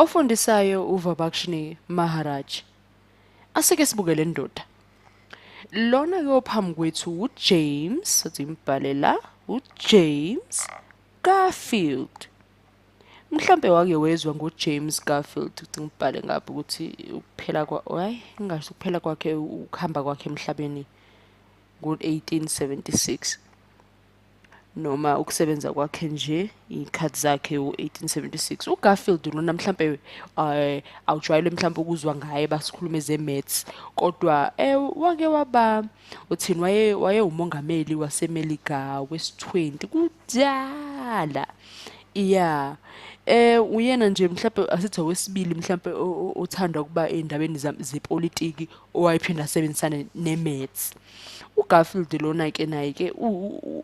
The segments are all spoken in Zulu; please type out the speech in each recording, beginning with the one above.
Ofundisayo uVabakshni Maharaj. Asike sibuke le ndoda. Lona ke ophambi kwethu uJames, sothi imbhale la, uJames Garfield. Mhlambe wake wezwa ngoJames Garfield ukuthi ngibhale ngapha ukuthi ukuphela kwa ay ngingasho ukuphela kwakhe ukuhamba kwakhe emhlabeni ngo-1876. noma ukusebenza kwakhe nje iy'khathi zakhe u-1876 ugarfield lona mhlampe um eh, awujwayele mhlampe ukuzwa ngaye basikhulume ze-mats kodwa um wake waba uthini wayewumongameli wasemelika wesi-20 kudala ya eh uyena nje mhlawumbe asithi owesibili mhlawumbe othanda ukuba endabeni zepolitiki owayephinde asebenzisane neMets uGarfield lona ke naye ke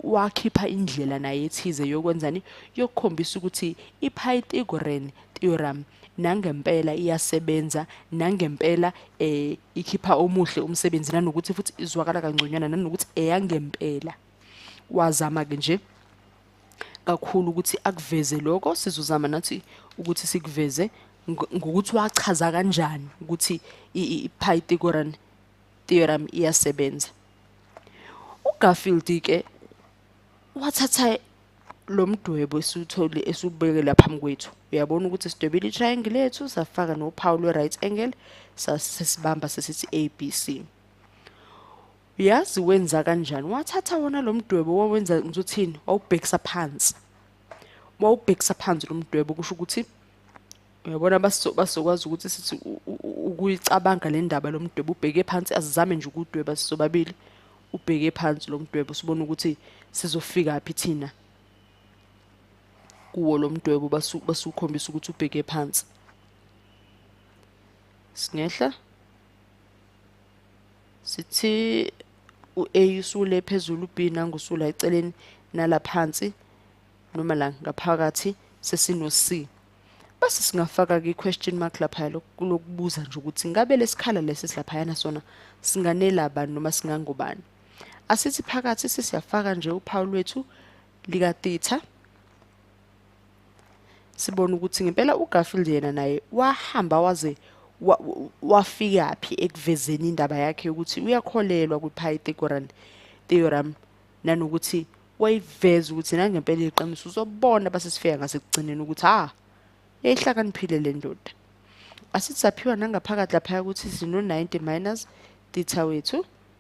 wakhipha indlela naye ethize yokwenzani yokukhombisa ukuthi iPythagorean theorem nangempela iyasebenza nangempela eh ikhipha omuhle umsebenzi nanokuthi futhi izwakala kangconywana nanokuthi eyangempela wazama ke nje kakhulu ukuthi akuveze lokho sizozama nathi ukuthi sikuveze ngokuthi wachaza kanjani ukuthi i-Pythagorean theorem iyasebenza uGarfield ke wathatha lo mdwebo esiwuthole esubeke lapha mkwethu uyabona ukuthi sidwebile i-triangle lethu safaka nophawu lwe-right angle sasibamba sesithi ABC uyazi wenza kanjani wathatha wona lo mdwebo wawenza ngizothini wawubhekisa phansi wawubhekisa phansi lo mdwebo kusho ukuthi uyabona basokwazi ukuthi sithi ukuyicabanga le ndaba lo mdwebo ubheke phansi asizame nje ukudweba sisobabili ubheke phansi lo mdwebo sibone ukuthi sizofika phi thina kuwo lo mdwebo basukhombisa ukuthi ubheke phansi singehla sithi u-a usule phezulu u-b nangusula eceleni nala phansi noma la ngaphakathi sesino-c base singafaka-ke i-question mark laphaya lokubuza nje ukuthi ngabe lesikhala lesi silaphayana sona singanela bani noma singangobani asithi phakathi sesiyafaka nje uphawu lwethu likatitha sibona ukuthi ngempela uGarfield yena naye wahamba waze wafika phi ekuvezeni indaba yakhe ukuthi uyakholelwa kwiPythagorean theorem nanokuthi wayiveza ukuthi nangempela iqiniso uzobona basesifika ngasekugcineni ukuthi ha yayihlakaniphile le ndoda asithi saphiwa nangaphakathi laphaya ukuthi sino-90 minus theta wethu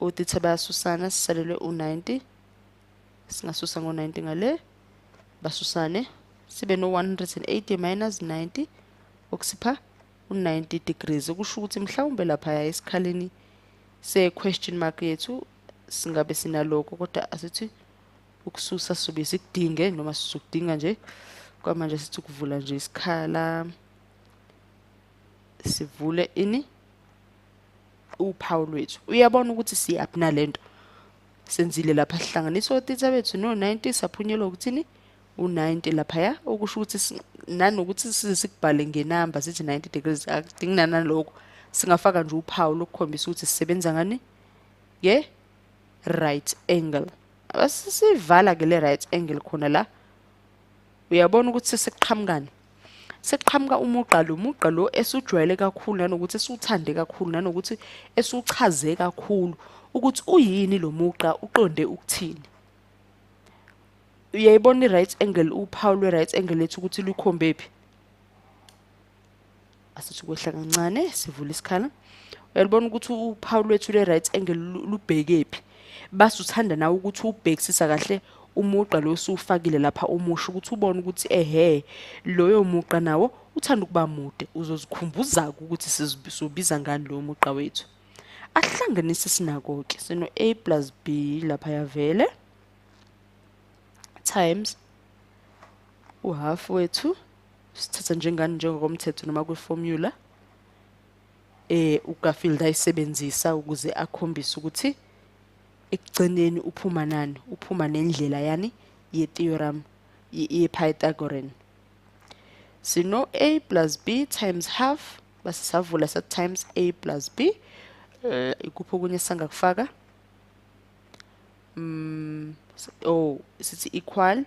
otitha bayasusana sisalelwe u-90 singasusa ngo-90 ngale basusane sibe no-180 minus 90 okusipha u-90 degrees okusho ukuthi mhlawumbe laphaya esikhaleni se-question mark yethu singabe sinaloko kodwa asithi ukususa sobe sikudinge noma sizokudinga nje kwamanje sithi ukuvula nje isikhala sivule ini uphawu lwethu uyabona ukuthi siyaphi nalento senzile lapha sihlanganisa otitha bethu no-90 saphunyelwa ukuthini u-90 laphaya okusho ukuthi nanokuthi size sikubhale ngenamba sithi 90 degrees akudingi nanalokho singafaka nje uphawu lokukhombisa ukuthi sisebenza ngani ye right angle abasisivala ke le right angle khona la uyabona ukuthi sesiqhamukani sekuqhamuka umugqa lo mugqa lo esujwayele kakhulu nanokuthi esiwuthande kakhulu nanokuthi esiwuchaze kakhulu ukuthi uyini lo mugqa uqonde ukuthini uyayibona i-right angle uphawu lwe-right angle lethu ukuthi lukhombe phi asithi kwehla kancane sivula isikhala uyalibona ukuthi uphawu lwethu le-right angle lubhekephi base uthanda nawe ukuthi ubhekisisa kahle umugqa lo usuwufakile lapha umusho ukuthi ubone ukuthi ehe loyo mugqa nawo uthanda ukuba mude uzozikhumbuza-ke ukuthi sizobiza ngani lowo mugqa wethu ahlanganise sinako-ke sino-a plus b lapha yavele times uhhafu wethu sithatha njengani njengokomthetho noma kwiformula eh uGarfield ayisebenzisa ukuze akhombise ukuthi ekugcineni uphuma nani uphuma nendlela yani ye-theorem ye-pythagorean sino a plus b times half basisavula sa times a plus b eh, ikuphi okunye sangakufaka mm oh sithi equal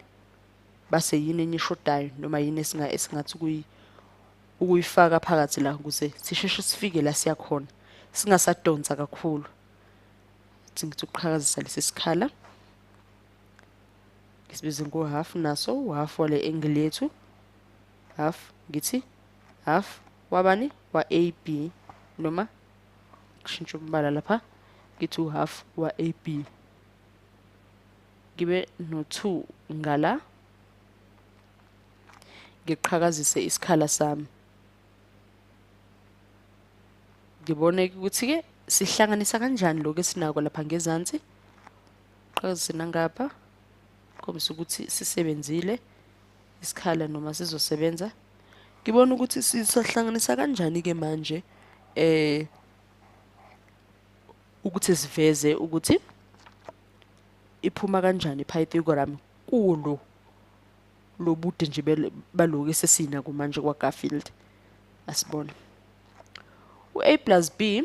base yini enye eshodayo noma yini esinga esingathi kuyi ukuyifaka phakathi la ukuze sisheshe sifike la siya khona singasadonsa kakhulu ngithi ukuqhakazisa lesi sikhala ngisibize ngo half naso u half wale angle yethu half ngithi half wabani wa AB noma kushintsha umbala lapha ngithi u half wa AB ngibe no-2 ngala ngiqhakazise isikhala sami ngibone ukuthi-ke sihlanganisa kanjani lokhu esinako lapha ngezansi qhakazise nangapha khombisa ukuthi sisebenzile isikhala noma sizosebenza ngibona ukuthi sisahlanganisa kanjani-ke manje eh ukuthi siveze ukuthi iphuma kanjani i-pythagoram kulo lobude nje baloku esesina kumanje kwa-garfield asibone u-a plus b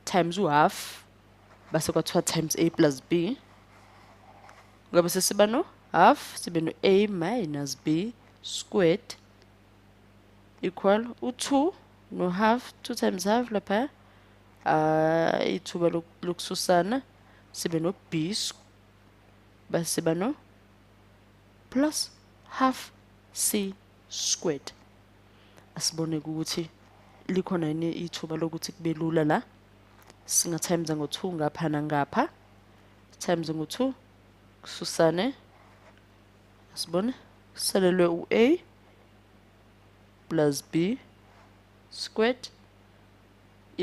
times u-half base kwathiwa times a plus b ngabe sesiba no half sibe no a minus b squared equal u-2 no-half 2 times half lapha uh, ithuba lokususana sibe no-b base bano plus half c squared asibone ukuthi likhona yini ithuba lokuthi kube lula la singathayimiza ngo-2 ngapha nangapha thayimize ngo-2 kususane asibone kusalelwe u-a plus b squared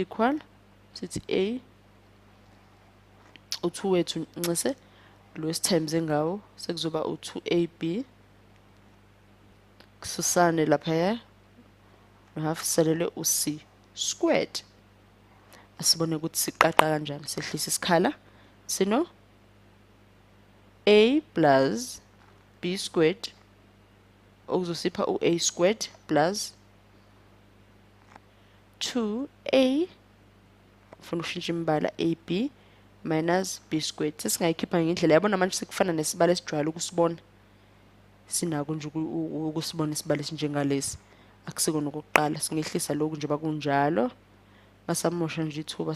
equal sithi a u-2 wethu nxese lo esithembise ngawo sekuzoba u-2ab kususane laphaya nohaf selele u-c squared asibone ukuthi siqaqa kanjani sehlisa isikhala sino a plus b squared okuzosipha u-a squared plus 2a ufuna ukushintsha imibala ab minus b squared sesingayikhipha ngendlela yabona manje sekufana nesibalo esijwayele ukusibona sinako nje ukusibona isibalo esinjengalesi akusikona okokuqala singehlisa lokhu njengoba kunjalo ngasamosha nje ithuba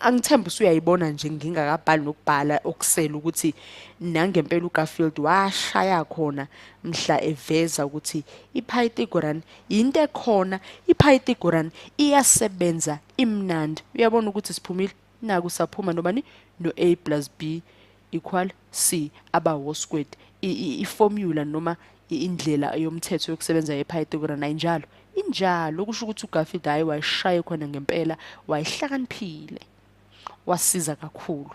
angithemba usuyayibona nje ngingakabhali nokubhala okusela ukuthi nangempela uGarfield washaya khona mhla eveza ukuthi iPythagoras into ekhona iPythagoras iyasebenza imnandi uyabona ukuthi siphumile naku saphuma nobani no A plus B equal C aba wo squared i-formula noma indlela yomthetho yokusebenza yePythagoras ayinjalo injalo kusho ukuthi uGarfield hayi wayishaye khona ngempela wayihlakaniphile wasiza kakhulu